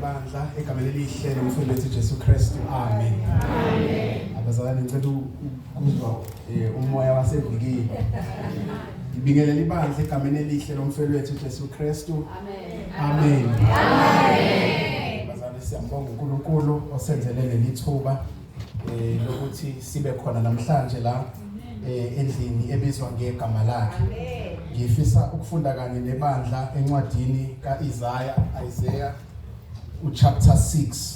bandla egameni elihle lomfundisi Jesu Kristu amen abazalwane ngicela kuzwa eh, umoya wasevikini ngibingelela ibandla egameni elihle lomfelo wethu Jesu Kristu amen amen bazalwane siyambonga uNkulunkulu osenzele leli thuba eh lokuthi sibe khona namhlanje la eh, endlini ebizwa ngegama lakhe ngifisa ukufunda kanye nebandla encwadini kaIsaya Isaiah uchapter 6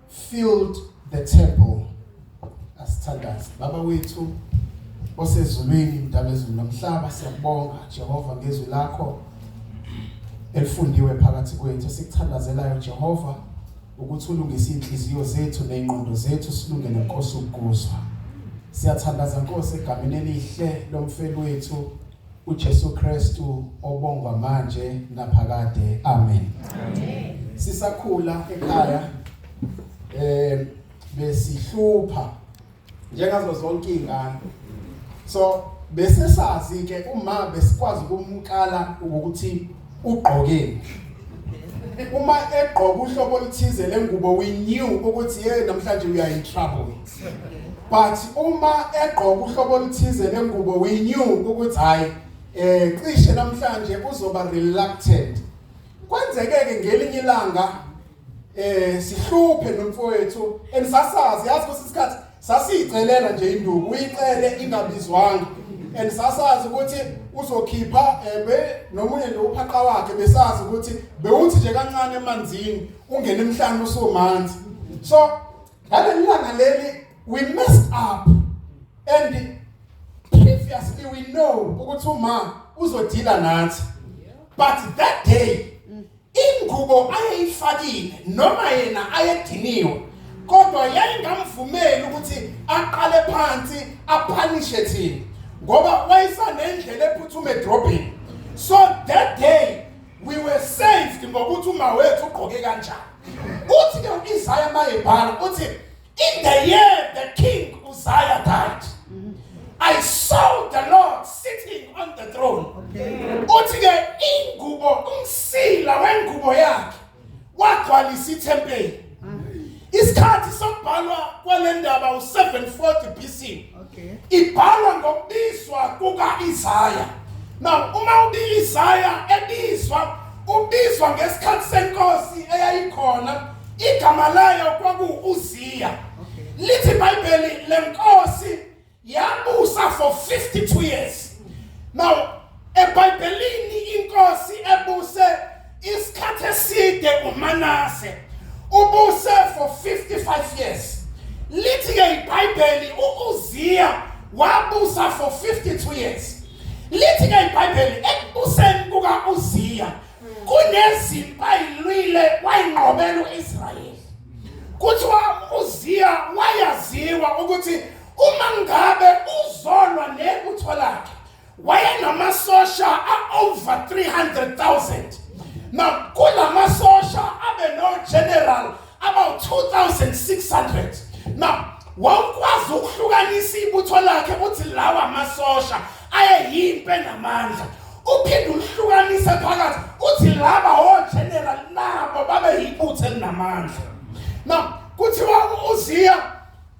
filled the temple asithandaze baba wethu osezulwini mdala ezulu nomhlaba siyakubonga Jehova ngezwi lakho elifundiwe phakathi kwethu sikuthandazelayo Jehova ukuthi ulungise inhliziyo zethu nezingqondo zethu silunge nenkosi ukuzwa siyathandaza Nkosi egameni elihle lomfeli wethu uJesu Kristu obongwa manje naphakade amen amen sisakhula ekhaya eh besihlupha njengazo zonke izingane so bese sazi ke uma besikwazi ukumkala ukuthi ugqokeni uma egqoka uhlobo oluthize lengubo we knew ukuthi hey namhlanje we are in trouble but uma egqoka uhlobo oluthize lengubo we knew ukuthi hayi eh cishe namhlanje uzoba reluctant kwenzeke ke ngelinye ilanga eh sihluphe nomfowethu enisasazi yazi ukuthi isikhathi sasiyicelela nje induku uyicele ingabizwanga and sasazi ukuthi uzokhipha ebe eh, nomunye nje uphaqa wakhe besazi ukuthi bewuthi nje kancane emanzini ungena emhlanje usumanzi so ngalelanga leli we messed up and previously we know ukuthi uma uzodila nathi but that day ingubo ayeyifakile noma yena ayediniwe kodwa yayingamvumeli ukuthi aqale phansi aphanishe thina ngoba wayesanendlela ephuthume edrobheni so that day we were saved ngokuthi uma wethu ugqoke kanjani uthi ke uIsaya mayebhala uthi in the year the king Uzziah died I saw the Lord sitting on the throne uthi ke ingubo umsila wengubo yakhe wagcwalisa ithempeli isikhathi sokubhalwa kwalendaba u740 BC Okay. Ibhalwa ngokubizwa kuka-Isaya. Now uma ubi-Isaya ebizwa ubizwa ngesikhathi senkosi eyayikhona igama layo kwakuwu-Uziya. Okay. Lithi iBhayibheli lenkosi yabusa for 52 years. Now EBhayibhelini inkosi ebuse isikhathi eside uManase ubuse for 55 years. Lithi ke iBhayibheli uUziya wabusa for 52 years. Lithi ke iBhayibheli ekubuseni kukaUziya kunezimpi ayilwile wayinqobela uIsrayeli. Kuthiwa uZiya wayaziwa ukuthi uma ngabe uzolwa nebutho lakhe wayenamasosha a-over 300,000 nakula masosha abe no-general about 2600 na wawukwazi ukuhlukanisa ibutho lakhe ukuthi lawa amasosha ayeyimpe namandla uphinde uhlukanise phakathi uthi laba ogeneral nabo babe yibutho elinamandla na kuthiwa uziya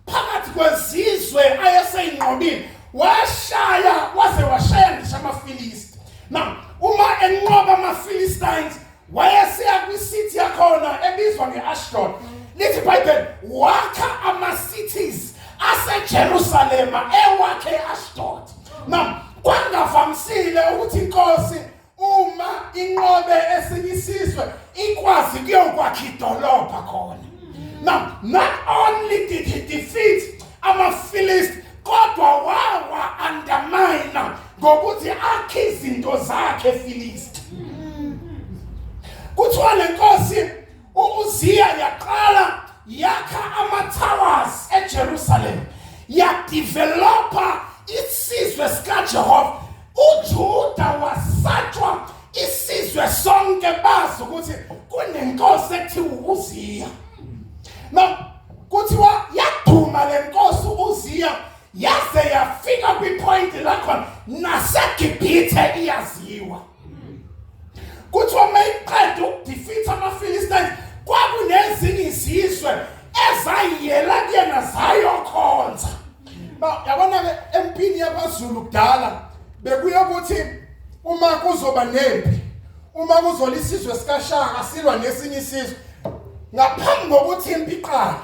phakathi kwezizwe ayeseyinqobile washaya waze washaya ngisho amafilisti now uma enqoba amafilistines wayeseya kwisithi yakhona ebizwa nge-ashdod lithi ibhayibheli wakha ama-cities asejerusalema ewakhe e-ashdod now kwangavamisile ukuthi inkosi uma inqobe esinye isizwe ikwazi kuyokwakha idolobha khona now not only did he defeat amafilist kodwa wawa undermine ngokuthi akhe izinto zakhe efilisti kuthiwa lenkosi uMuziya yaqala yakha ama-towers eJerusalem yadevelopa isizwe sikaJehova uJuda wasatshwa isizwe sonke bazi ukuthi kunenkosi ekuthiwa uZiya no kuthiwa yaduma lenkosi uZiya yaze yafika kwipoint lakhona naseGibhithe iyaziwa kuthiwa uma iqeda ukudifitha amafilistayini kwakunezinye izizwe ezayiyela kuyena zayokhonza yabona-ke empini yabazulu kudala bekuye ukuthi uma kuzoba nempi uma kuzola isizwe sikashaka silwa nesinye isizwe ngaphambi kokuthi impi iqale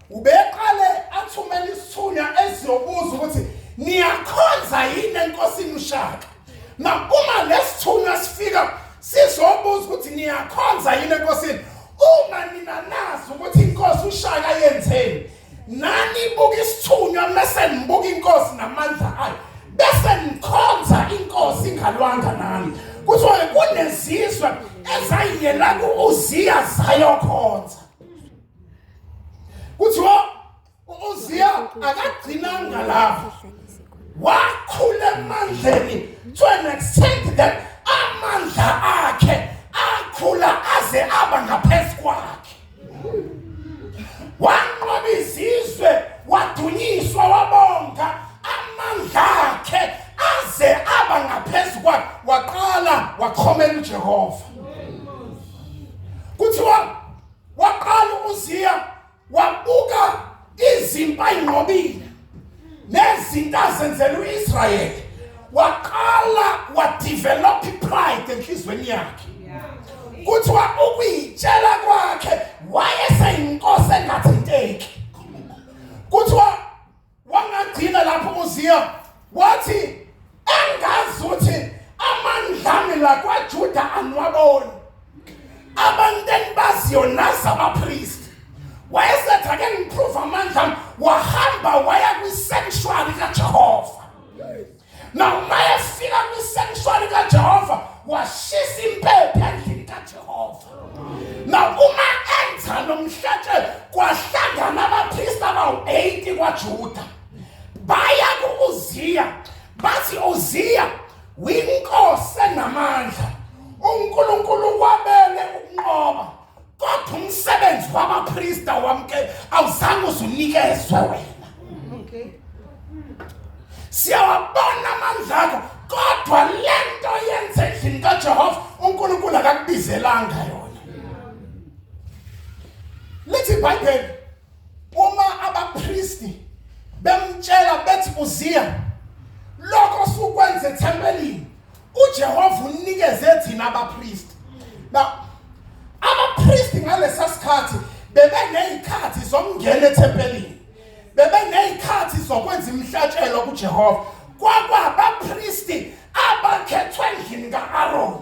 Ubeqale athumela isithunywa esizobuza ukuthi niyakhonza yini enkosini uShaka. Na uma lesithunywa sifika sizobuza ukuthi niyakhonza yini enkosini. Uma nina nazi ukuthi inkosi uShaka yenzeni. Nani buka isithunywa mase nibuka inkosi namandla ayo. Bese nikhonza inkosi ingalwanga nami. Kuthiwa kunezizwe ezayiyela kuUziya zayokhonza. kuthiwa uziya akagcinanga lapho wakhula emandleni to an extent that amandla akhe akhula aze aba ngaphezu kwakhe wanqoba izizwe wadunyiswa wabonga amandla akhe aze aba ngaphezu kwakhe waqala wakhomela ujehova kuthiwa waqala umuziya wabuka izimpi ayinqobile nezinto azenzela u-israyeli waqala wadevelop ipride enhliziyweni yakhe kuthiwa ukuyitshela kwakhe wayeseyinkosi engathinteki kuthiwa wangagcina lapho uziya wathi angazi ukuthi amandlami la kwajuda anwaboni abantu engibaziyo nazi abapristi wayesethi ake ngiprove amandlami wahamba waya kwisanctuary kajehova Noma efika kwisensuali kaJehova washisa impepho endlini kaJehova. Nokuma enza nomhlatshe kwahlangana abapristi abawu-80 kwaJuda. Baya ku-Uziya bathi Uziya winkosi enamandla uNkulunkulu wabele ukunqoba kodwa umsebenzi wabaprista wamke awuzange uzunikezwe wena okay siyawabona amandla akho kodwa le nto yenze endlini kajehova unkulunkulu akakubizelanga yona lithi ibhayibheli uma abapristi bemtshela bethi uziya lokho sukwenze ethempelini uJehova unikeze thina abapristi ba abapristi ngalesa sikhathi bebe nezikhathi zokungena ethempelini bebe nezikhathi zokwenza imihlatshelo kuJehova kwakwabapristi abakhethwe endlini kaAron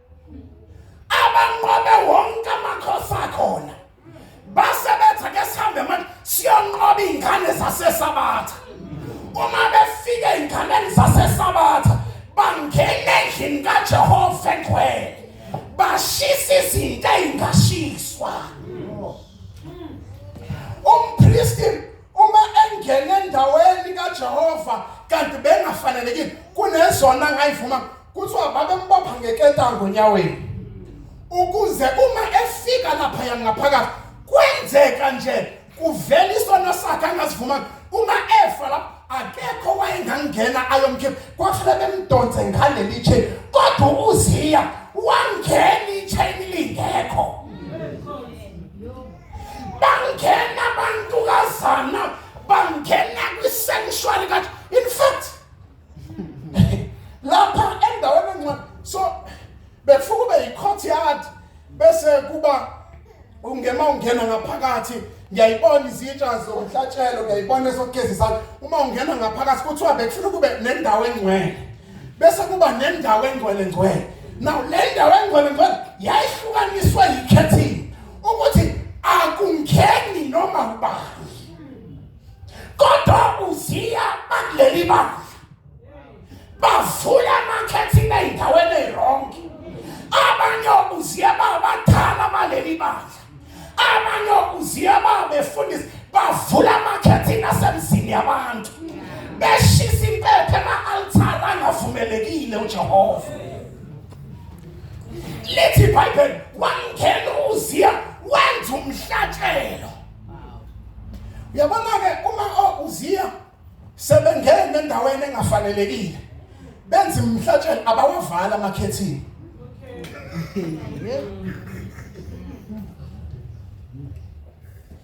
abanqobe wonke amakhosi akhona base bethi ake sihambe manje siyonqoba iy'ngane zasesabatha uma befika ey'nganeni zasesabatha bangena endlini kajehova egcwele bashisa izinto ey'ngashiswa umpristi uma engena endaweni kajehova kanti bengafanelekile kunezona ngayivuma kuthiwa babembopha ngeketango onyaweni ukuze uma efika lapha yangaphakathi kwenzeka nje kuvela isono sakhe angasivumanga uma efa lapho akekho wayengangena ayomkhipha kwafanele bemdonse ngaleli chain kodwa uziya wangena ichain lingekho bangena abantukazana bangena kwi-sanctuary kathi in fact lapha endaweni encane so befuna ube yi-courtyard bese kuba ungema ungena ngaphakathi ngiyayibona izitsha zomhlatshelo ngiyayibona esokugeza izandla uma ungena ngaphakathi kuthiwa bekufuna kube nendawo engcwele bese kuba nendawo engcwele ngcwele now le ndawo engcwele ngcwele yayihlukaniswe yikhethini ukuthi akungeni noma ubani kodwa uziya bakuleli bandla bavula amakhethini ey'ndaweni ey'rongi abanye okuziya babadala baleli bandla abanye okuziya babefundisi bavula amakhethini asemzini yabantu beshisa impepho ema-altara angavumelekile ujehova lithi ibhayibheli wangena uziya wenza umhlatshelo uyabona-ke uma ouziya sebengene endaweni engafanelekile benza imhlatshelo abawavala amakhethini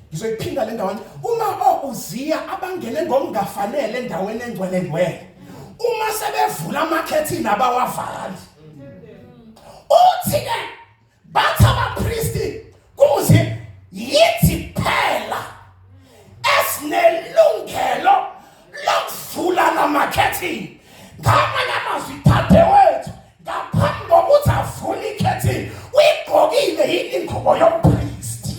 ngizoyiphinda le ndawana uma ouziya abangene ngokungafanele endaweni engcwele ngcwele uma sebevula amakhethini abawavali uthi-ke Bathi abapristi kuze yithi phela esinelungelo lokuvula namakhethini ngamanye amazwi thathe wethu ngaphambi kokuthi avule ikhethini uyigqokile yini ingubo yomphristi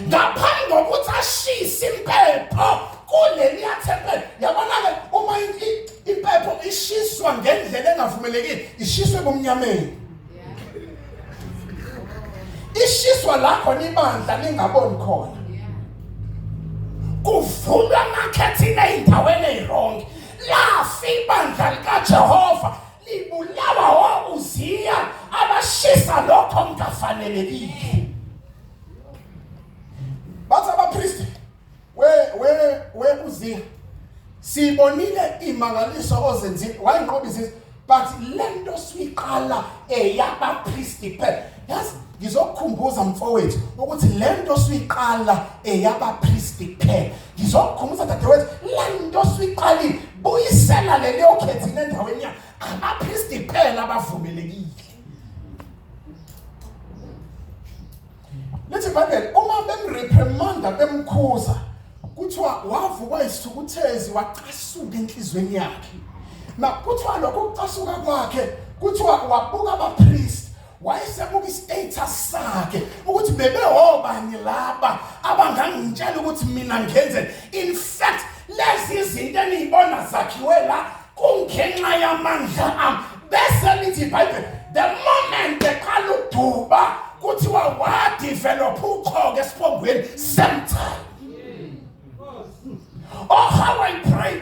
ngaphambi kokuthi ashise impepho kuleliya thempeli yabona-ke uma impepho ishiswa ngendlela engavumelekile ishiswe ebumnyameni ishiswa la khona ibandla lingaboni khona kuvulwa amakhethini ey'ndaweni ey'rongi lafa ibandla likajehova libulawa ouziya abashisa lokho mngafanelekile bathi abapristi we we we uziya sibonile imangaliso ozenzile wayinqoba izizwe but lento siyiqala eyabapristi phela yazi ngizokukhumbuza mfowethu ukuthi lento siyiqala eyabapristi phela ngizomkhumbuza dadewethu lento siqalile buyisela leli okhethile endaweni yakhe abapristi kuphela abavumelekile lithi ibhayibheli uma bemreprimanda bemkhuza kuthiwa wavukwa isithukuthezi wacasuka enhliziyweni yakhe na kuthiwa lokho kucasuka kwakhe kuthiwa wabuka abapristi wayesebuka istatus sakhe ukuthi bebehobani laba abangangitshela ukuthi mina ngenze in fact lezi zinto eniyibona zakhiwe la kungenxa yamandla ami bese lithi ibhayibheli the moment eqala uduba kuthiwa wadevelopha uqhoke esiphongweni same time oh how i pray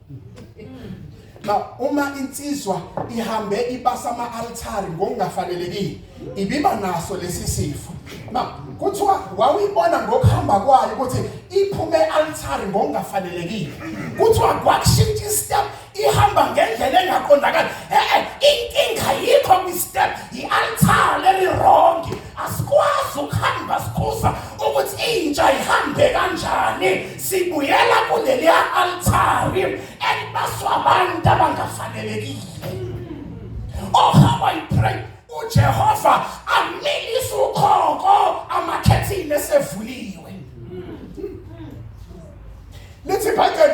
Ba uma insizwa ihambe ibasa ama altari ngokungafanelekile ibiba naso lesi sifo. Ba kuthiwa wawuyibona ngokuhamba kwayo ukuthi iphume altari ngokungafanelekile. Kuthiwa kwakushintsha istep ihamba ngendlela engaqondakali. Eh inkinga yikho kwi step i altari leli wrong. asikwazi ukuhamba sikhuza ukuthi intsha ihambe kanjani sibuyela kuleliya altari elibaswa abantu abangafanelekile oh how i pray ujehova amilise ukhoko amakhethini esevuliwe lithi ibhayibheli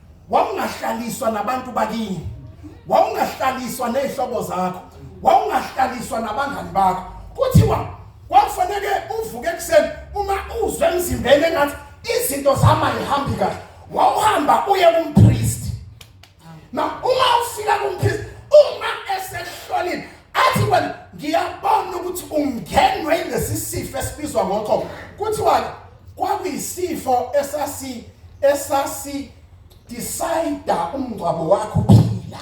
wawungahlaliswa nabantu bakini wawungahlaliswa nezihlobo zakho wawungahlaliswa nabangani bakho kuthiwa kwakufanele uvuke ekuseni uma uzwe emzimbeni engathi izinto zama yihambi kahle wawuhamba uye kumpriest na uma ufika kumpriest uma esehlolile athi wena ngiyabona ukuthi ungenwe lesi sifo esibizwa ngokho kuthiwa Kwakuyisifo esasi esasi decide umngcwabo wakho phila.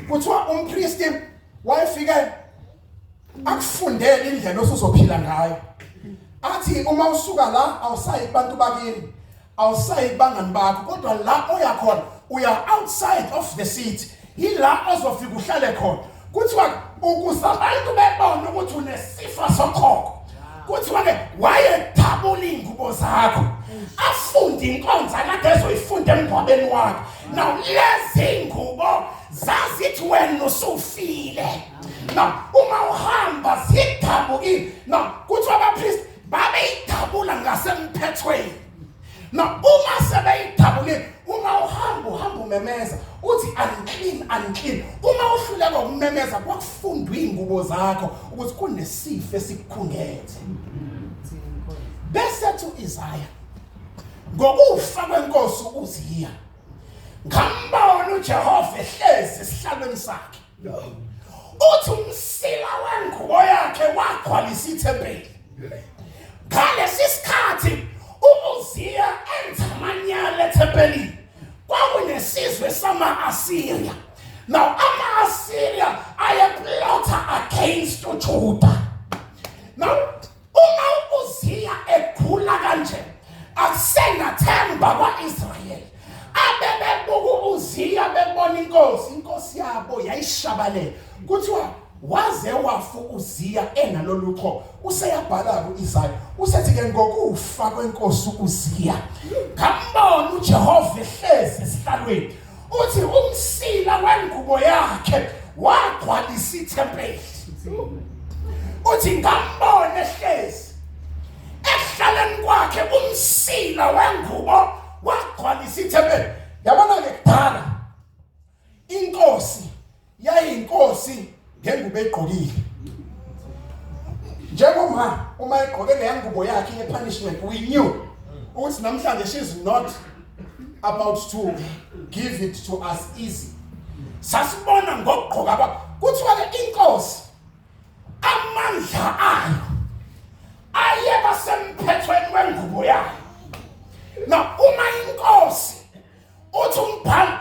Kuthiwa umpriest wayefike akufundele indlela osuzophila ngayo. Athi uma usuka la awusayi kubantu bakini. awusayi kubangani bakho kodwa la oya khona uya outside of the city yila ozofika uhlale khona kuthiwa ukuze abantu bebone ukuthi unesifa sokhokho kuthiwa ke wayethabula iy'ngubo zakho afunde inkonza kade ezoyifunda emngcwabeni wakhe now lezi ngubo zazithi wena usufile now uma uhamba zidabukile now kuthiwa abapristi babeyidabula ngasemphethweni na uma sebeyidabule uma uhamba uhamba umemeza uthi unclean unclean uma uhluleka ukumemeza kwakufundwa izingubo zakho ukuthi kunesifo esikukhungethe bese thi uIsaya ngokufa kwenkosi uZiya ngambona uJehova ehlezi esihlalweni sakhe uthi umsila wengubo yakhe wagcwalisa ithempeli ngalesi sikhathi umuziya enza amanyala ethempelini kwakunesizwe sama-asiriya now ama-asiriya ayeplotha against ujuda now Uma uZiya egula kanje akusenathemba kwa-Israyeli abebebuka uZiya bebona inkosi inkosi yabo yayishabalele kuthiwa waze wafu uZiya enalolu qho useyabhala ku-Isaya usethi ke ngokufa kwenkosi uZiya ngambona uJehova ehlezi esihlalweni uthi umsila wengubo yakhe wagcwalisa ithempeli uthi ngambone ehlezi ekuhlaleni kwakhe umsila wengubo wagcwalisa ithempeli yabona-ke kudala inkosi yayinkosi ngengubo egqokile njengoma uma egqoke leya ngubo yakhe ye-punishment we knew ukuthi namhlanje she's not about to give it to us easy sasibona ngokugqoka kwakho kuthiwa ke inkosi amandla ayo ayeba semphethweni wengubo yayo na uma inkosi uthi umbhali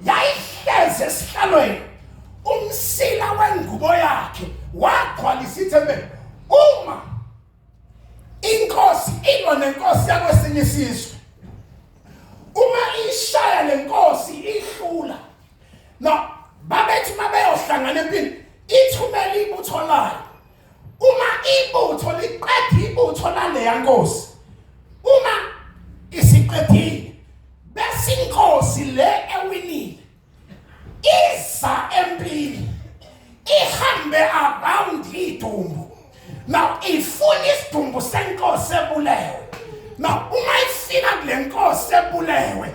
yayihlezi esihlalweni umsila wengubo yakhe wagcwala isithembele uma inkosi ilwa nenkosi yakwesinye isizwe uma ishaya lenkosi ihlula no babethi mabeyohlangana empini ithumela ibutho layo uma ibutho liqeda ibutho laleya nkosi uma isiqedile bese inkosi le ewinile iza empini ihambe around idumbu now ifuna isidumbu senkosi ebulewe now uma ifika kule nkosi ebulewe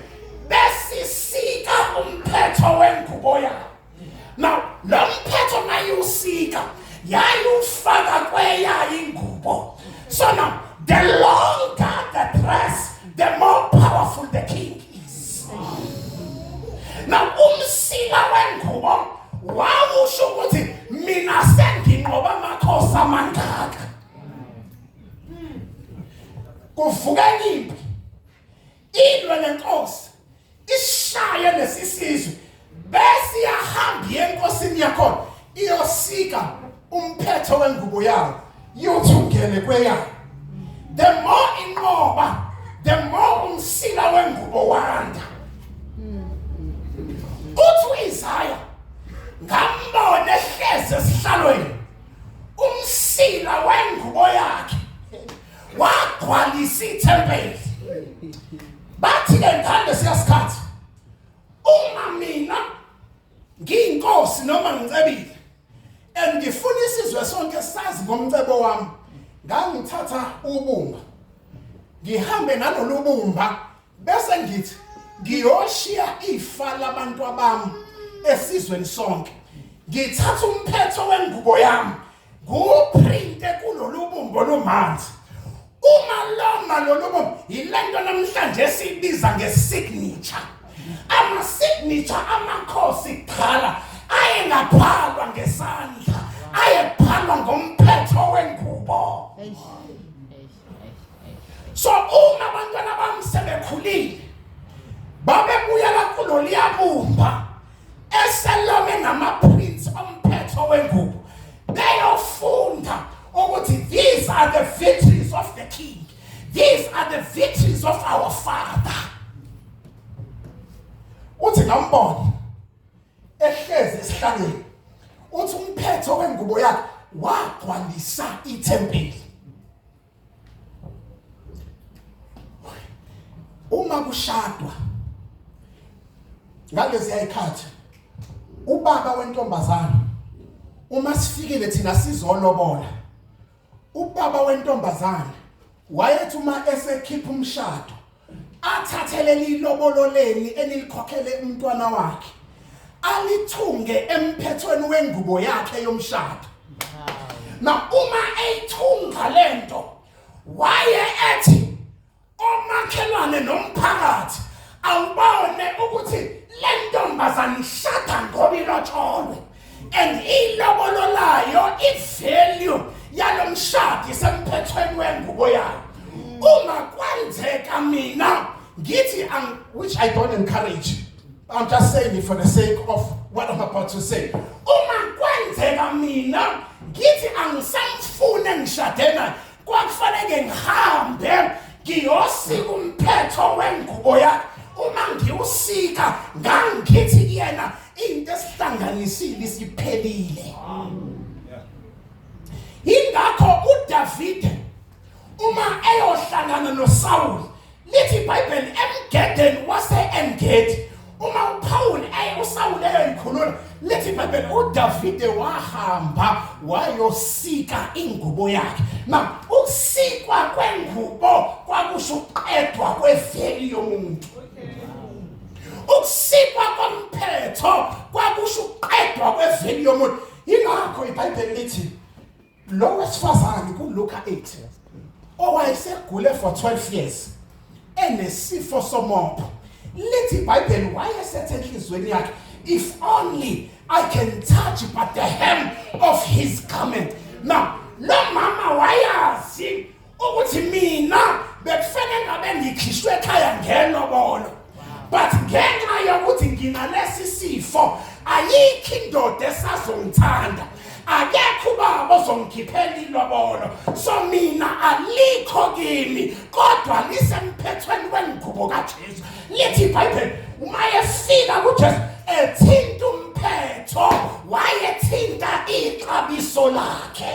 besisika umphetho wengubo yakhe now lo mphetho mayewusika yayufaka kweyayo ingubo so now the longer the dress the more powerful the king is now umsila wengubo wawusho ukuthi mina senginqoba amakhosi amangaka kuvukani Indwa lenkosi ishaye lesisizwe bese yahamba yenkosini yakhona iyosika umphetho wengubo yayo yothi ungene kweyayo the more inqoba the more umsila wengubo wanda uthi uyizaya ngambona ehleze esihlalweni umsila wengubo yakhe wagcwalisa ithempeli bathi ke ngihamba siyasikhathi uma mina ngiyinkosi noma ngicebile and ngifuna isizwe sonke sazi ngomcebo wami ngangithatha ubumba ngihambe nalolu bumba bese ngithi ngiyoshiya ifa labantu abami esizweni sonke ngithatha umphetho wengubo yami Nguphrinte kulolu bumbo olumanzi. Uma loma lolu bumbo yile nto namhlanje esiyibiza nge-signature. Ama-signature amakhosi qhala ayengabhalwa ngesandla ayebhalwa ngomphetho wengubo. So uma abantwana bami sebekhulile babebuyela kuloliyabumba eselome ngamaprints omphetho wengubo beyofunda ukuthi these are the victories of the king these are the victories of our father uthi ngambona ehlezi esihlalweni uthi umphetho wengubo yakhe wagcwalisa ithempeli uma kushadwa ngalezi ayikhathi ubaba wentombazana uma sifikile thina sizolobola ubaba wentombazana wayethi uma esekhipha umshado athathe leli lobolo leni enilikhokhele umntwana wakhe alithunge emphethweni wengubo yakhe yomshado na uma eyithunga lento waye ethi omakhelwane nomphakathi awubone ukuthi le ntombazane ishada ngoba ilotsholwe and ilobolo layo ivalue yalo mshadi semphethweni wengubo yayo uma kwenzeka mina ngithi um, which i don't encourage i'm just saying it for the sake of what i'm about to say uma kwenzeka mina ngithi angisamfune ngishade naye kwakufanele ngihambe ngiyosika umphetho wengubo yakhe uma ngiwusika ngangithi kuyena into esihlanganisile isiphelile ingakho uDavid uma eyohlangana noSawuli Lithi iBhayibheli emgedeni wase-Engedi uma uPawuli aye uSawule eyoyikhulula lithi iBhayibheli uDavide wahamba wayosika ingubo yakhe. Na ukusikwa kwengubo kwakusho ukuqedwa kweveli yomuntu. Ukusikwa komphetho kwakusho ukuqedwa kweveli yomuntu. Yingakho iBhayibheli lithi lo wesifazane kuLuka 8 owayesegule for 12 years enesifo somopho lithi iBhayibheli wayesethe enhlizweni yakhe if only I can touch but the hem of his garment now lo mama wayazi ukuthi mina bekufanele ngabe ngikhishwe ekhaya ngenobolo but ngenxa yokuthi nginalesi sifo ayikho indoda esazongithanda akekho ubaba ozongikhiphela ilobolo so mina alikho kimi kodwa lisemphethweni wengubo kaJesu lithi iBhayibheli uma efika kuJesu ethinta umphetho wayethinta ixabiso lakhe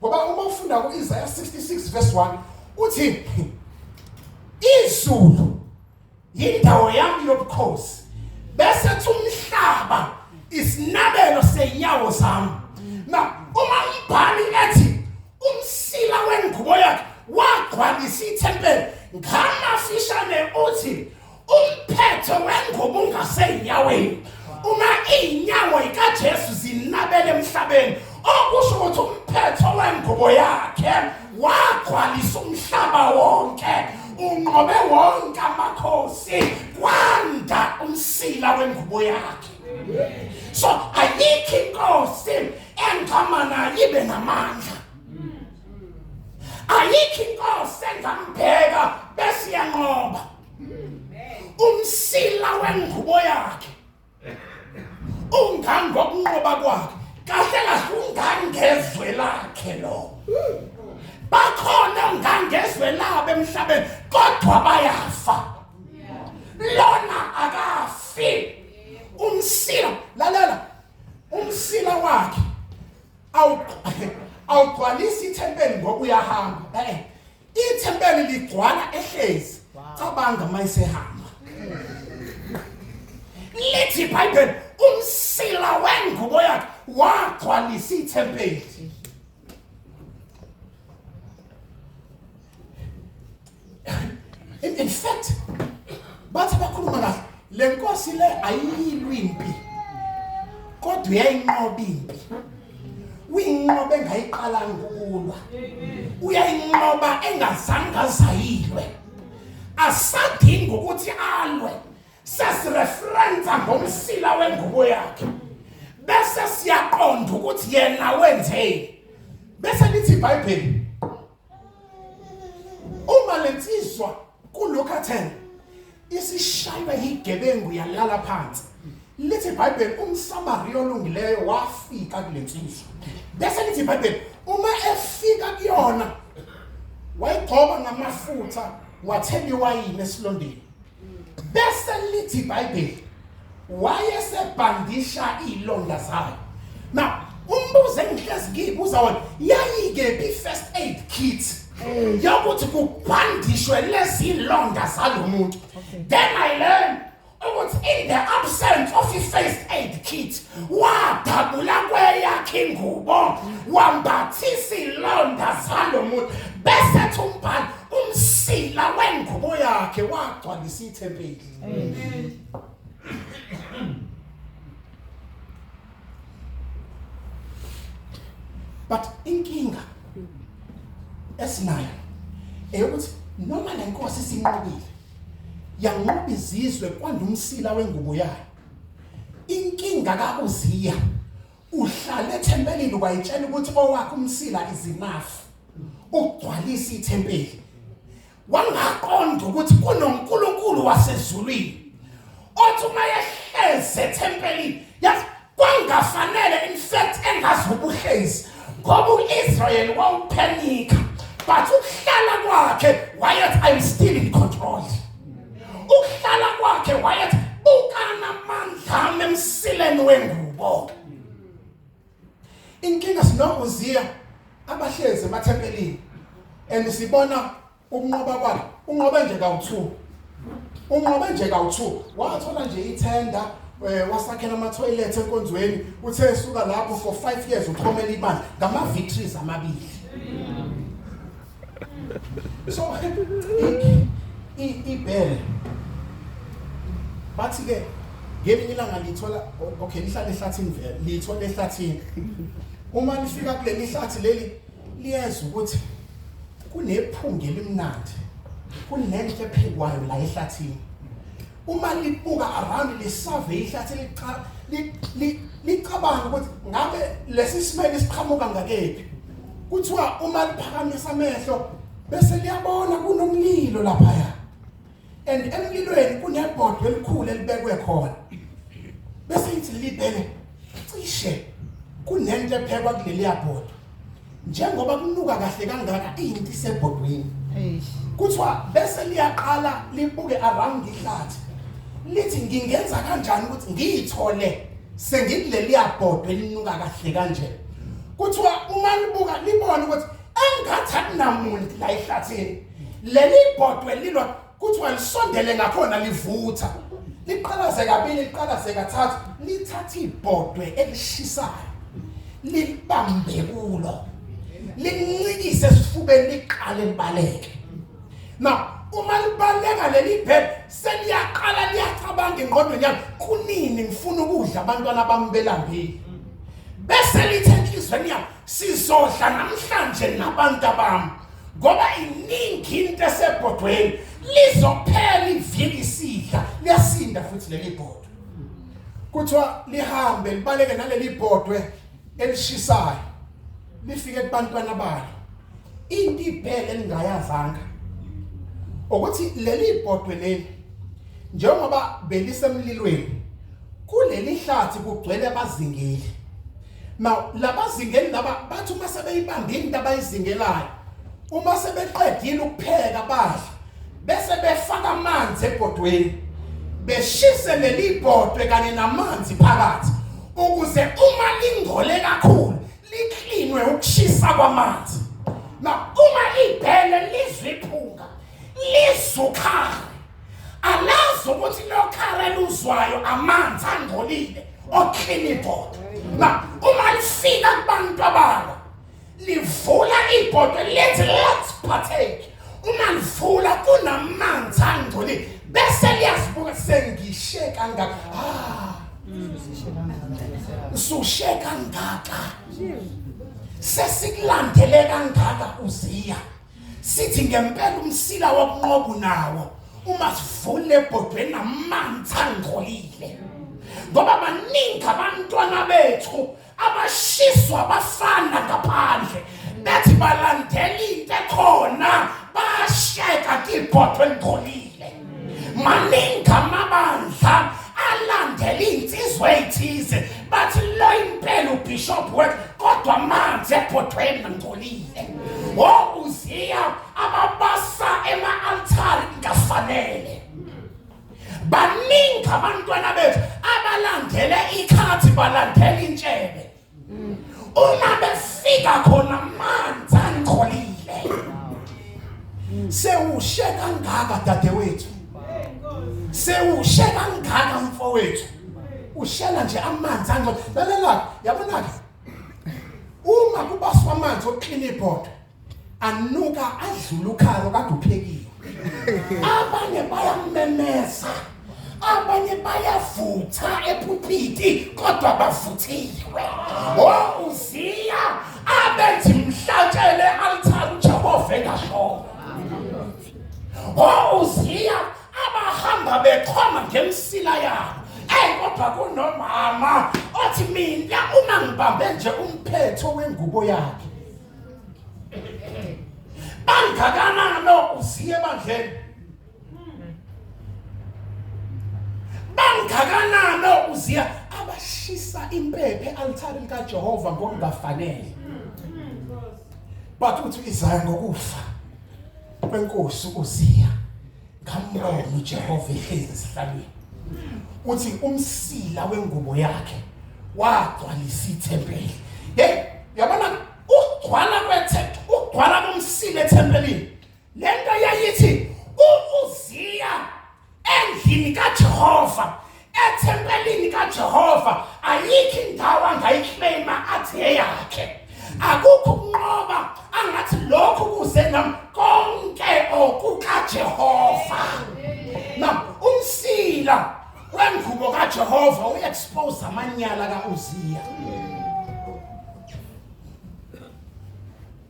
ngoba uma ufunda ku-isaya 66 verse 1 uthi izulu yindawo yami yobukhosi bese kuthi umhlaba isinabelo senyawo zami na uma umbhali ethi umsila wengubo yakhe wagcwalisa ithempeli ngamafishane uthi umphetho wengubo ungaseyinyaweni uma izinyawo zikaJesu zinabele emhlabeni okusho ukuthi umphetho wengubo yakhe wagcwalisa umhlaba wonke unqobe wonke amakhosi kwanda umsila wengubo yakhe so ayikho inkosi engama nayo ibe namandla ayikho inkosi engambheka bese iyanqoba umsila wengubo yakhe ungani ngokunqoba kwakhe kahle kahle ungani ngezwe lakhe lo bakhona ngani ngezwe labo emhlabeni kodwa bayafa lona akafi umsila lalela umsila wakhe awugcwalisi ithempeli ngoba uyahamba eh Ithempeli ligcwala ehlezi. Cabanga mayisehamba. Lithi iBhayibheli umsila wengubo yakhe wagcwalisa ithempeli. In, in fact, bathi bakhuluma kahle Le nkosi le ayiyilwi impi kodwa uyayinqoba impi. Uyinqoba engayiqalanga ukulwa. Uyayinqoba engazange azayilwe. Asadingi ukuthi alwe. Sesireferensa ngomsila wengubo yakhe. Bese siyaqonda ukuthi yena wenzeni. Bese lithi iBhayibheli uma lensizwa kulokhu athena isishaywa yigebengu yalala phansi lithi ibhayibheli umsamariya olungileyo wafika kule nsizwa bese lithi ibhayibheli uma efika kuyona wayigcoba ngamafutha wathela iwayini esilondeni bese lithi iBhayibheli wayesebhandisha ilonda zayo now umbuzo engihlezi ngiyibuza wona yayike bi first aid kit yokuthi kubhandishwe lezilonda zalomuntu then i learned ukuthi in the absence of i first aid kit wadabula kweyakhe ingubo wambathisa ilonda zalomuntu bese thumbhala umsila wengubo yakhe wagcwalisa ithempeli but inkinga esinayo eyokuthi noma le nkosi sinqobile yanqoba izizwe kwandumsila wengubo yayo inkinga kakuziya uhlala ethempelini wayitshela ukuthi owakhe umsila izinafu ukugcwalisa ithempeli wangaqonda ukuthi kunoNkulunkulu wasezulwini othi uma yehleze ethempelini yazi kwangafanele in fact engazi ubuhlezi ngoba uIsrael wawuphenika but ukuhlala kwakhe wayethi i'm still in control ukuhlala kwakhe wayethi bukana amandla ami emsileni wengubo inkinga sinokuziya abahlezi emathempelini and sibona ukunqoba kwakhe unqobe nje kawu-two unqobe nje kawu-two wathola nje ithenda eh wasakhela ama toilet enkonzweni uthe esuka lapho for 5 years uxhomela imali ngama victories amabili so ibhele bathi ke ngelinye ilanga lithola okay lihlale ehlathini vele lithola ehlathini uma lifika kuleli hlathi leli liyeza ukuthi kunephunga elimnandi kunenhle phekwayo la ehlathini uma libuka around le survey ihlathi licha licabanga ukuthi ngabe lesi simele siqhamuka ngakephi kuthiwa uma liphakamisa amehlo bese liyabona kunomlilo lapha ya and emlilweni kunebhodwe elikhulu elibekwe khona bese ithi libhele cishe kunento ephekwa kuleli yabhodwe njengoba kunuka kahle kangaka inti sebhodweni kuthiwa bese liyaqala libuke around ihlathi lithi ngingenza kanjani ukuthi ngiyithole sengikuleliya bhodwe elinuka kahle kanje kuthiwa uma libuka libone ukuthi engathi akunamuntu la ehlathini leli bhodwe lilwa kuthiwa lisondele ngakhona livutha liqalaze kabili liqalaze kathathu lithatha ibhodwe elishisayo libambe kulo lincikise esifubeni liqale libaleke now uma libaleka leli bed seliyaqala liyacabanga ingqondweni yami kunini ngifuna ukudla abantwana bami belambile bese lithe enhlizweni yami sizodla namhlanje nabantu abami ngoba iningi into esebhodweni lizophela iviki isidla liyasinda futhi leli bhodwe kuthiwa lihambe libaleke naleli bhodwe elishisayo lifike kubantwana balo into ibhele elingayazanga ukuthi leli bhodwe leli njengoba belisemlilweni kuleli hlathi kugcwele abazingeli now labazingeli laba bathi uma sebeyibambile into abayizingelayo uma sebeqedile ukupheka badla bese befaka amanzi ebhodweni beshise leli bhodwe kanye namanzi phakathi ukuze uma lingole kakhulu liklinwe ukushisa kwamanzi na uma ibhele lizwiphunga lizukhale alazi ukuthi lokhara luzwayo amanzi angcolile oclean ibhodo na uma lifika kubantu abalo livula ibhodo lenze let's partake uma livula kunamanzi angcolile bese liyazibuka sengishe kangaka ah usushe kangaka sesikulandele kangaka uziya sithi ngempela umsila wokunqobu nawo uma sivule ebhodweni namanzi angcolile ngoba baningi abantwana bethu abashiswa bafana ngaphandle bethi balandela into ekhona basheka kibhodwe ngcolile maningi amabandla alandela iy'nsizwa ey'thize bathi lo impela ubishop wethu kodwa amanzi ebhodweni ngcolile o oh, uziya ababasa ema-altari kungafanele baningi abantwana bethu abalandele ikhathi balandela intshebe uma befika khona amanzi angcolile sewushe kangaka dadewethu sewushe kangaka mfowethu ushela nje amanzi angcolile lalela yabona ke uma kubaswa amanzi oklina ibhodo anuka adlula ukhalo kade uphekile abanye bayamemeza abanye bayavutha ephuphiti kodwa bavuthiwe o uziya abenzi mhlatshele altar uJehova engashona o uziya abahamba bechoma ngemsila yabo hey kodwa kunomama othi mina uma ngibambe nje umphetho wengubo yakhe bangakanani uziye ebandleni bangakanani uziya abashisa impephe altari likajehova ngokungafanele but uthi izaya ngokufa kwenkosi uziya Ngambona uJehova ehlezi esihlalweni. Uthi umsila wengubo yakhe wagcwalisa ithempeli. Hey, yabona ukugcwala kwethempeli, ukugcwala komsila ethempelini. Lento yayithi uZiya endlini kaJehova Ethempelini kaJehova ayikho indawo angayiclaima athi eyakhe. Akukho ukunqoba angathi lokhu kuze nami konke okukaJehova. Na umsila wengubo kaJehova uexpose amanyala kaUziya.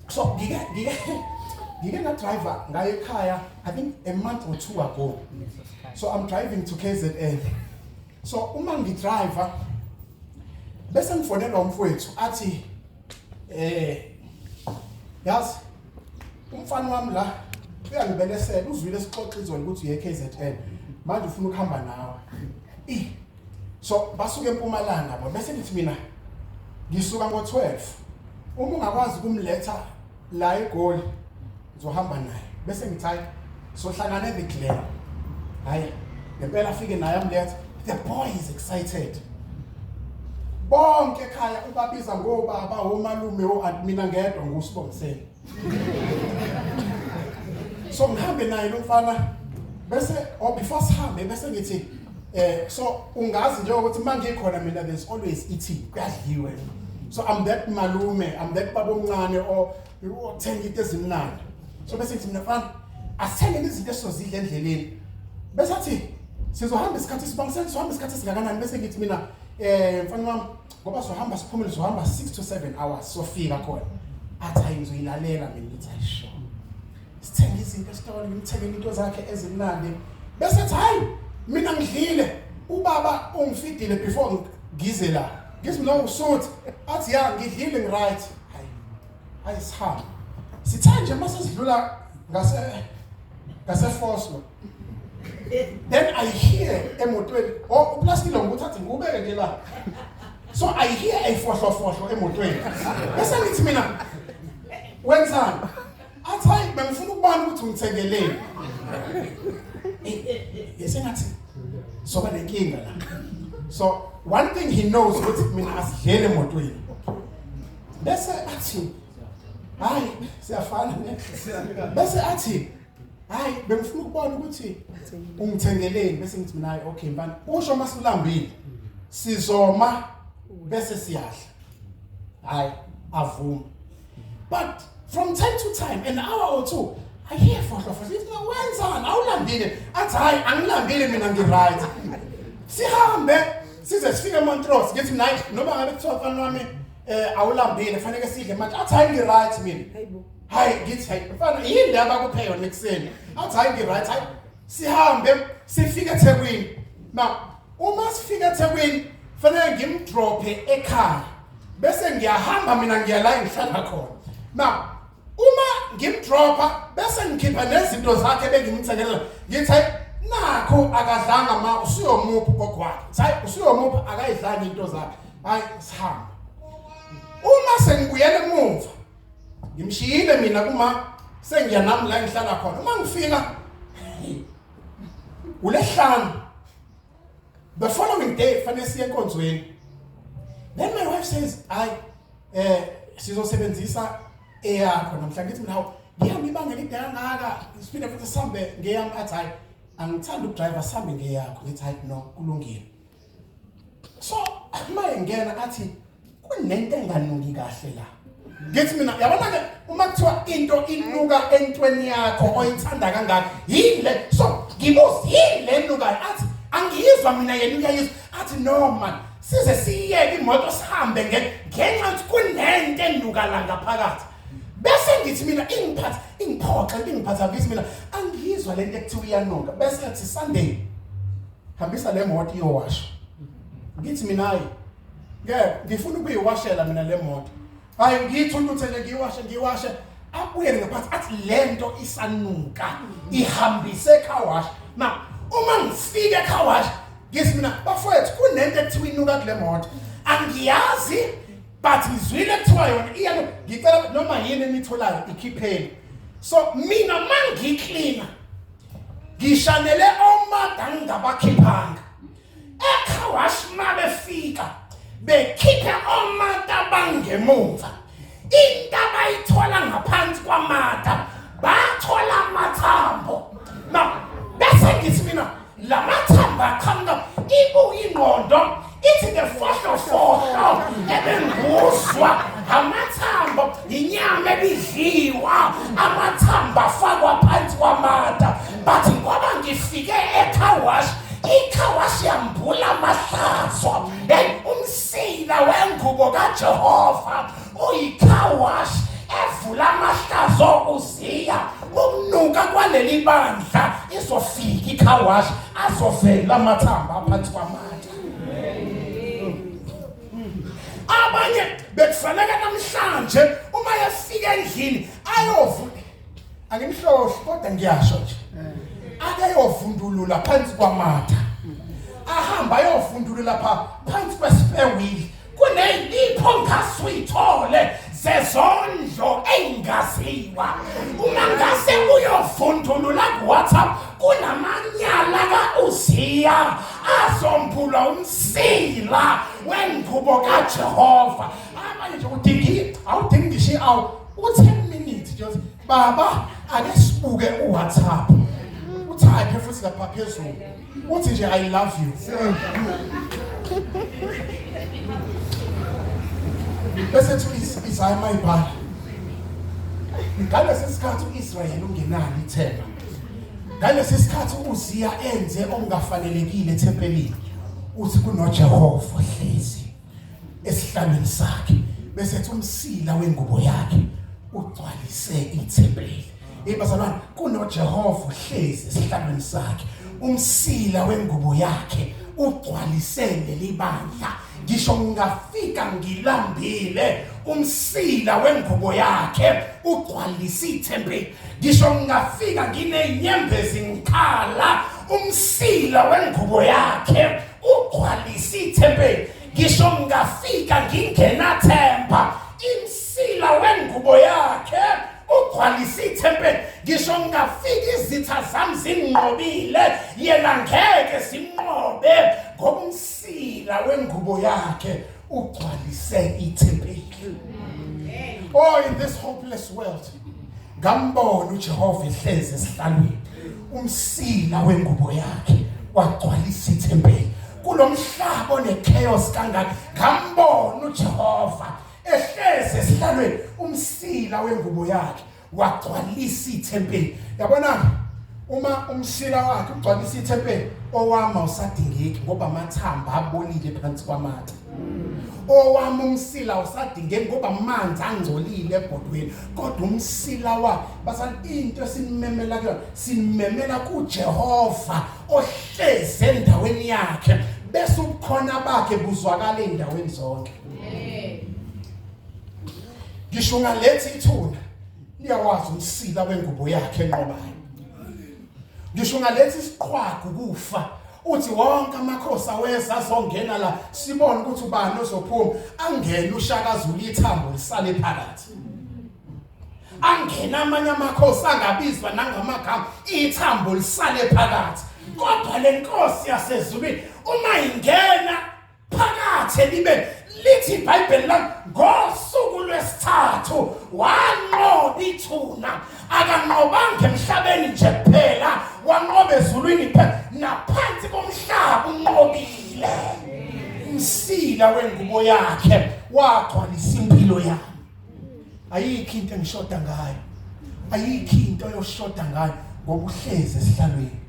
so ngike ngike ngike ngadriver ngaye ekhaya i think a month or two ago so i'm driving to kzn so uma ngidriver bese ngifonela umfowethu athi eh yazi umfana wami la uyangibelesela uzwile sixoxa izolo ukuthi uye kzn manje ufuna ukuhamba nawe so basuke empumalanga bo bese ngithi mina ngisuka ngo12 uma ungakwazi kumletha la egoli ngizohamba naye bese ngithi hayi sohlangana the glen hayi ngempela afike naye amletha the boy is excited bonke ekhaya ubabiza ngobaba omalume oadmina ngedwa ngusibongiseni so ngihambe naye lo mfana bese or oh, before sihambe bese ngithi eh so ungazi nje ukuthi mangikhona mina there's always ithi kuyadliwe so i'm that malume i'm that baba omncane or uthenga into ezimnandi so bese ngithi mina mfana asithenge izinto esizozidla endleleni bese athi sizohamba isikhathi sibangiseni sizohamba isikhathi singakanani bese ngithi mina eh mfana wami ngoba sohamba siphumule sohamba 6 to 7 hours sofika khona athi hayi ngizoyilalela mina ngithi hayi sho sithenga izinto esitolo ngimthengele into zakhe ezimnandi bese athi hayi mina ngidlile ubaba ungifidile before ngize la ngithi mina usuthi athi ya ngidlile ngiright hayi hayi sihamba sithe nje mase sidlula ngase ngase Foslo then i hear emotweni oh uplastile ngikuthathe ngikubeke nje la so i hear ayifohlofohlo emotweni bese ngithi mina wenzani athi hayi bengifuna ukubona ukuthi ungithekeleni yesengathi soba nenkinga la so one thing he knows ukuthi mina asidlele emotweni bese athi hayi siyafana ne bese athi hayi bengifuna ukubona ukuthi ungithengeleni bese ngithi mina hayi okay mfana usho uma silambile sizoma bese siyadla hayi avuma but from time to time an hour or two i hear for for this no wenzani awulambile athi hayi angilambile mina ngi right sihambe size sifike eMontrose ngithi mina noma ngabe kuthiwa mfana wami eh awulambile fanele sidle manje athi hayi ngi right mina hayi ngithi hayi mfana yini le abakuphe yona ekuseni athi hayi ngi-right hayi sihambe sifike ethekwini na uma sifike ethekwini fanele ngimdrophe ekhaya bese ngiyahamba mina ngiya la engihlala khona na uma ngimdropha bese ngikhipha nezinto zakhe bengimthengelela ngithi hayi nakho akadlanga ma usuyomuphi gogo wakhe hayi usuyomuphi akayidlanga into zakhe hayi sihamba uma sengibuyela emuva ngimshiyile mina kuma sengiya nami la ngihlala khona uma ngifika ulehlanu the following day fanele siye enkonzweni then my wife says i eh sizosebenzisa eyakho namhlanje ngithi mina ngiyami ibanga elide kangaka ngisifile futhi sihambe ngeyami athi hayi angithandi ukudriver sihambe ngeyakho ngithi hayi no kulungile so uma engena athi kunento enganuki kahle la ngithi mina yabona ke uma kuthiwa into inuka entweni yakho oyithanda kangaka yile so ngibuza yile enukayo athi angiyizwa mina yena uyayizwa athi no man size siyeke imoto sihambe ngenxa yokuthi kunento enuka la ngaphakathi bese ngithi mina ingiphatha ingiphoxa ingiphatha ngithi mina angiyizwa lento ekuthiwa iyanuka bese ngathi sunday hambisa le moto iyowasha ngithi minayi ngeke ngifuna ukuyiwashela mina le moto hayi ngithi untuthele ngiyiwashe ngiyiwashe abuyele ngaphansi athi le nto isanuka ihambise ecowash na uma ngifike ecowash ngithi mina bafowethu kunento ekuthiwa inuka kule moto angiyazi but ngizwile kuthiwa yona iya ngicela noma yini enitholayo ikhipheni so mina mangiklina ngishanele omada ngingabakhiphanga ekhawashi uma befika bekhiphe omata bangemumva into abayithola ngaphansi kwamata bathola amathambo bese ngithi mina la mathambo aqhamuka ibuye ingqondo ithi ngefohlofohlo ebenguzwa amathambo yinyama ebidliwa amathambo afakwa phansi kwamata but ngoba ngifike ecarwash icarwash yambula amahlazo eyi umsila wengubo kajehova uyicarwash evula amahlazo uziya ukunuka kwaleli bandla izofika icarwash azovela amathamba aphansi kwamata abanye bekufanele namhlanje uma yafika endlini ayovula angimhlohli kodwa ngiyasho nje akeyovundulula phansi kwamatha ahamba ayovundulula pha phansi kwespare wheel kuneyipho ngase uyithole zezondlo eyingaziwa uma ngase uyovundulula kuwhatsapp kunamanyala ka-uziya azombulwa umsila wengubo kajehova abanye nje udingi awudingi ngisho i-awu u-ten minutes nje baba ake sibuke uwhatsapp uthi akhe futhi lapha phezulu uthi nje i love you bese thi izaya mayibhala ngalesi sikhathi u-israyeli ungenalo ithemba ngalesi sikhathi uziya enze okungafanelekile ethempelini uthi kunojehova hlezi esihlalweni sakhe bese ethi umsila wengubo yakhe ugcwalise ithempeli hey bazalwane kunoJehova uhlezi esihlalweni sakhe umsila wengubo yakhe ugcwalise leli bandla ngisho ngingafika ngilambile umsila wengubo yakhe ugcwalisa ithempeli ngisho ngingafika nginenyembezi ngikhala umsila wengubo yakhe ugcwalise ithempeli ngisho ngingafika ngingenathemba imsila wengubo yakhe ugcwalise ithempeli ngisho ngingafika izitha zami zinqobile yena ngeke simnqobe ngomsila wengubo yakhe ugcwalise ithempeli oh in this hopeless world ngambona uJehova ehlezi esihlalweni umsila wengubo yakhe wagcwalisa ithempeli kulomhlaba onechaos kangaka ngambona uJehova ehlezi esihlalweni umsila wengubo yakhe wagcwalisa ithempeli yabona uma umshila wakhe ugcwalisa ithempeli owama usadingeki ngoba amathamba abolile phansi kwamathe owami umsila usadingeki ngoba amanzi angcolile ebhodweni kodwa umsila wakhe basani into esimemela kuyona simemela kujehova ohlezi endaweni yakhe bese ubukhona bakhe buzwakala ey'ndaweni zonke ngisho ungalethi ithuna niyawazi umsila wengubo yakhe enqobayo ngisho ungalethi isiqhwagu kufa uthi wonke amakhosi aweza azongena la sibone ukuthi ubani ozophuma angene ushaka zulu ithambo lisale phakathi angena amanye amakhosi angabizwa nangamagama ithambo lisale phakathi kodwa lenkosi yasezulwini uma ingena phakathe libe lithi ibhayibheli lami ngosuku lwesithathu wanqoba ithuna akanqobanga emhlabeni nje kuphela wanqoba ezulwini kuphela naphansi komhlaba unqobile umsila wengubo yakhe wagcwalisa impilo yami ayikho into engishoda ngayo ayikho into oyoshoda ngayo ngoba uhlezi esihlalweni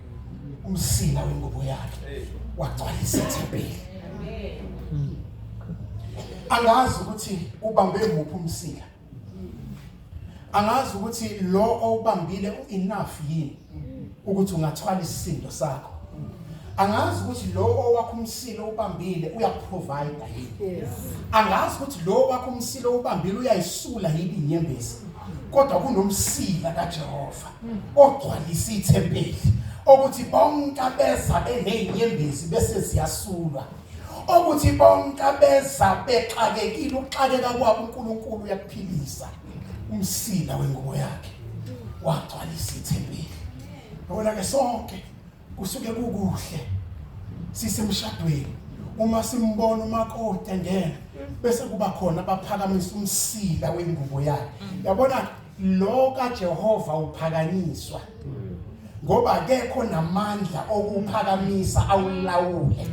umsila wengubo yakhe wagcwalisa ithempeli angazi ukuthi ubambe muphi umsila angazi ukuthi lo owubambile uenough yini ukuthi ungathwala isisindo sakho angazi ukuthi lo owakho umsile ubambile uyakuprovide yini angazi ukuthi lo owakho umsile ubambile uyayisula yini inyembezi kodwa kunomsila kaJehova ogcwalisa ithempeli okuthi bonke abeza benezinyembezi bese ziyasulwa okuthi bonke abeza bexakekile uxakeka kwabo uNkulunkulu uyakuphilisa umsila wengubo yakhe wagcwalisa ithempeli yabona ke sonke kusuke kukuhle sisemshadweni uma simbona umakoti engena bese kuba khona baphakamisa umsila wengubo yakhe yabona lo kaJehova uphakanyiswa ngoba kekho namandla okuphakamisa awulawule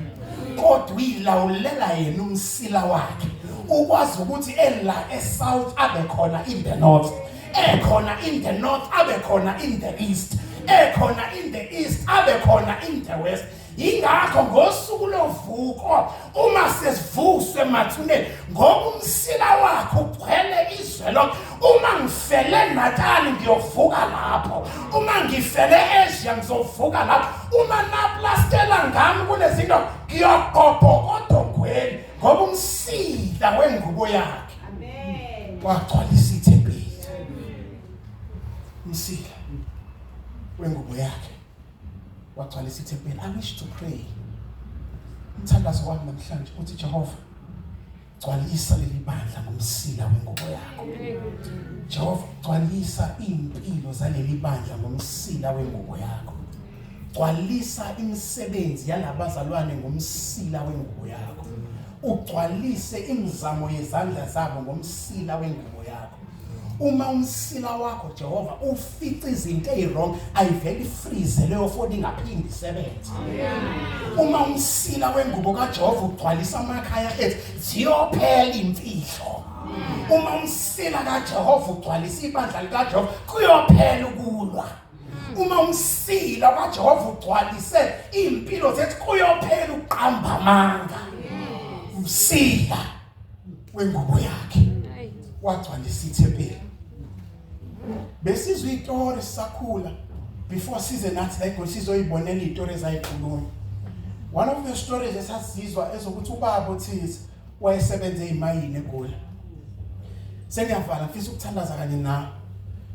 kodwa uyilawulela yena umsila wakhe ukwazi ukuthi ela esouth abe khona in the north ekhona in the north abe khona in the east ekhona in the east abe khona in the west yingakho ngosuku lovuko uma sesivuswe mathuneni ngoba umsila wakho ugcwele izwe lonke uma ngifele natali ngiyovuka lapho uma ngifele asia ngizovuka lapho uma naplastela ngami kunezinto ngiyogobhokoda ogweni ngoba umsila wengubo yakhe wagcwalisa ithempeli umsila wengubo yakhe wagcwalisa ithempeli i wish to pray umthandazo wami namhlanje uthi Jehova gcwalisa leli bandla ngomsila wengubo yakho Jehova gcwalisa impilo zaleli bandla ngomsila wengubo yakho gcwalisa imisebenzi yalabazalwane ngomsila wengubo yakho ugcwalise imizamo yezandla zabo ngomsila wengubo uma umsila wakho Jehova ufica izinto eziwrong ayiveli freeze leyo foni ingaphindi isebenze uma umsila wengubo kaJehova ugcwalisa amakhaya ethu ziyophela imfihlo uma umsila kaJehova ugcwalisa ibandla likaJehova kuyophela ukulwa uma umsila kaJehova ugcwalise impilo zethu kuyophela uqamba amanga umsila wengubo yakhe wagcwalisa ithempeli besizwe itori sakhula before size nathi la egoli sizoyibonela itori ezayikhuluma one of the stories esasizwa ezokuthi ubaba othize wayesebenze imayini egoli sengiyavala ngifisa ukuthandaza kanye nawe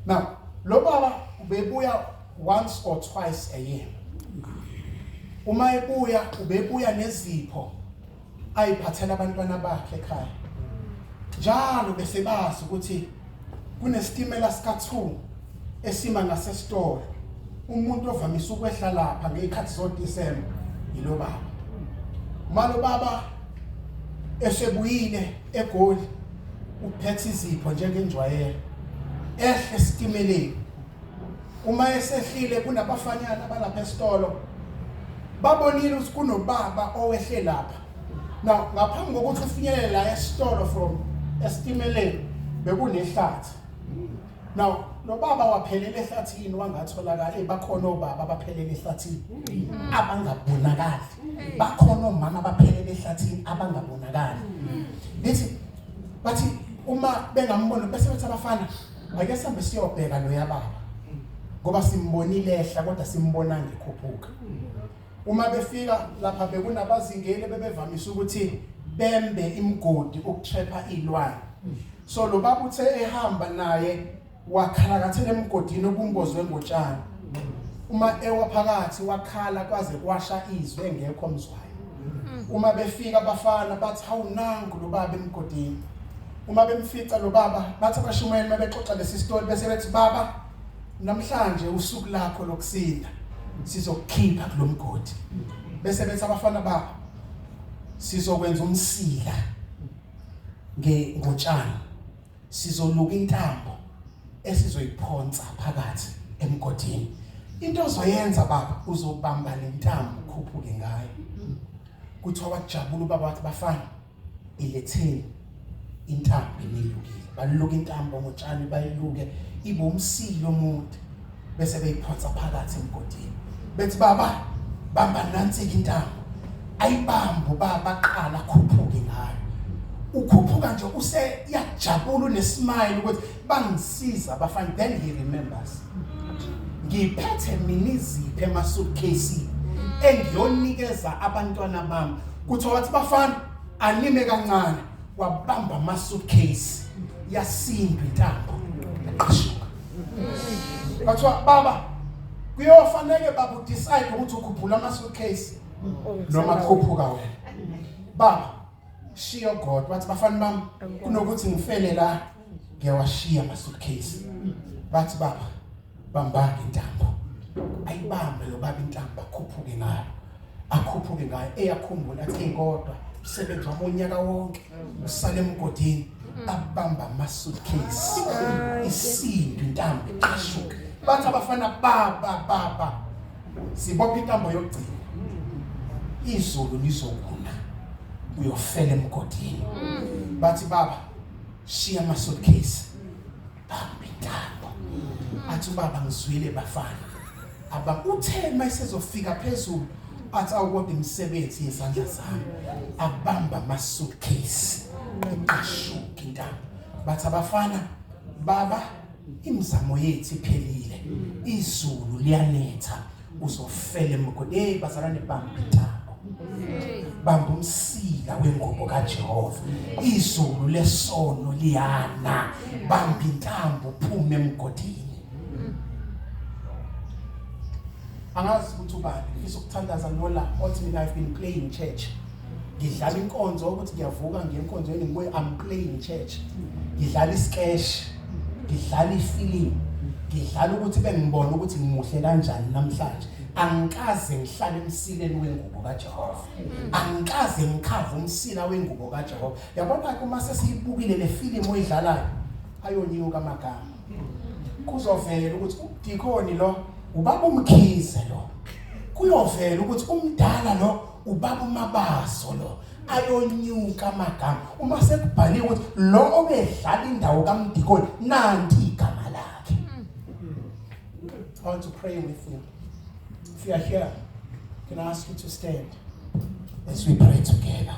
now lo baba ubebuya once or twice a year uma ebuya ubebuya nezipho ayiphathela abantwana bakhe ekhaya njalo bese bazi ukuthi kunesitimela sika-2 esima ngasesitolo umuntu ovamise ukwehla lapha ngey'khathi zodisemba yilo baba uma lo baba esebuyile egoli uphethe izipho njengenjwayelo ehle esitimeleni uma esehlile kunabafanyana abalapha esitolo babonile ukuthi kunobaba owehle lapha now ngaphambi kokuthi ufinyelele la esitolo from esitimeleni bekunehlathi now lo baba waphelela ehlathini wangatholakala hey bakhona obaba abaphelela ehlathini abangabonakali bakhona omama abaphelela ehlathini abangabonakali lithi bathi uma bengambona bese bethi abafana Ake sambe siyobheka lo yababa. Ngoba simbonile ehla kodwa simbona ngikhuphuka. Uma befika lapha bekunabazingeli bebevamise ukuthi bembe imgodi ukutrapha ilwane. So lo baba uthe ehamba naye wakhalakathela emgodini obumbozwe ngotshani. Uma ewa phakathi wakhala kwaze kwasha izwe ngekho mzwayo. Uma befika abafana bathi hawunangu lo baba emgodini. uma bemfica lo baba bathi abashumayeli uma bexoxa lesi story bese bethi baba namhlanje usuku lakho lokusinda sizokukhipha kulomgodi bese bethi abafana babo sizokwenza umsila nge ngotshani sizoluka intambo esizoyiphonsa phakathi emgodini into ozoyenza baba uzobamba lentambo ukhuphuke ngayo kuthiwa wajabula ubaba wathi bafana iletheni intambo enilukile baluka intambo ngotshani bayiluke ibe umsilo omude bese beyiphonsa phakathi emgodini bethi baba bamba nansi intambo ayibambe ubaba aqala khuphuke ngayo ukhuphuka nje use yajabula unesmile ukuthi bangisiza abafana then he remembers ngiphethe mina iziphi emasuitcase engiyonikeza abantwana bami kuthiwa wathi bafana anime kancane wabamba amasuitcase yasindwa intambo yaqashuka bathiwa baba kuyofanele baba udecide ukuthi ukhuphula amasuitcase noma kukhuphuka wena baba shiyo god wathi bafana bami kunokuthi ngifele la ngiyawashiya amasuitcase bathi baba bambanga intambo ayibambe lo baba intambo akhuphuke ngayo akhuphuke ngayo eyakhumbula athi kodwa usebenzi wami unyaka wonke usale emgodini abamba amasuitcase isindu intambo iqashuke bathi abafana baba baba sibopha intambo yokugcina izulu lizokuna uyofela emgodini bathi baba shiya ama suitcase bamba intambo athi ubaba ngizwile bafana aba uthe mayisezofika phezulu athi awukodwa imisebenzi yezandla zami abamba ama suitcase iqashuka intambo bathi abafana baba imizamo yethu iphelile izulu liyanetha uzofela emgodi hey bazalwane bamba itako bamba umsila wengubo kaJehova izulu lesono liyana bamba intambo phuma emgodini angazi ukuthi ubani ngifisa ukuthandaza nola othi mina I've been playing church ngidlala inkonzo ukuthi ngiyavuka ngiye enkonzweni ngibuye I'm playing church ngidlala iskesh ngidlala ifilimu ngidlala ukuthi bengibona ukuthi ngimuhle kanjani namhlanje angikaze ngihlale emsileni wengubo kaJehova angikaze ngikhave umsila wengubo kaJehova yabona ke uma sesiyibukile le filimu oyidlalayo ayonyuka amagama kuzovela ukuthi udikoni lo ubaba umkhize lo kuyovela ukuthi umdala lo ubaba umabaso lo ayonyuka amagama uma sekubhaliwe ukuthi lo obedlala indawo kaMdikoni nanti igama lakhe I want to pray with you if you are here can I ask you to stand as we pray together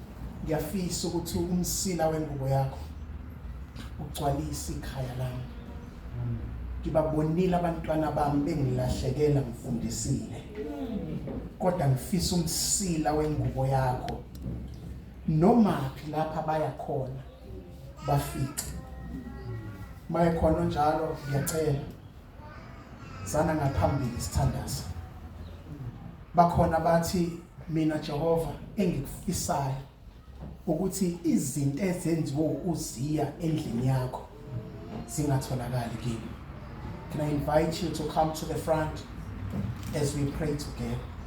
ngiyafisa ukuthi umsila wengubo yakho ugcwalise ikhaya lami ngibabonile abantwana bami bengilahlekela ngifundisile kodwa ngifisa umsila wengubo yakho noma lapha baya khona bafice mayekhona njalo ngiyacela sana ngaphambili sithandaza bakhona bathi mina Jehova engikufisayo ukuthi izinto ezenziwe uziya endlini yakho zingatholakali kimi can i invite you to come to the front as we pray together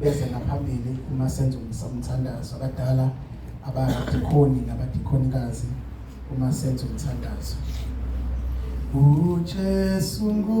beze ngaphambili uma senza umthandazo abadala abadikhoni nabadikhonikazi uma senza umthandazo uJesu ngu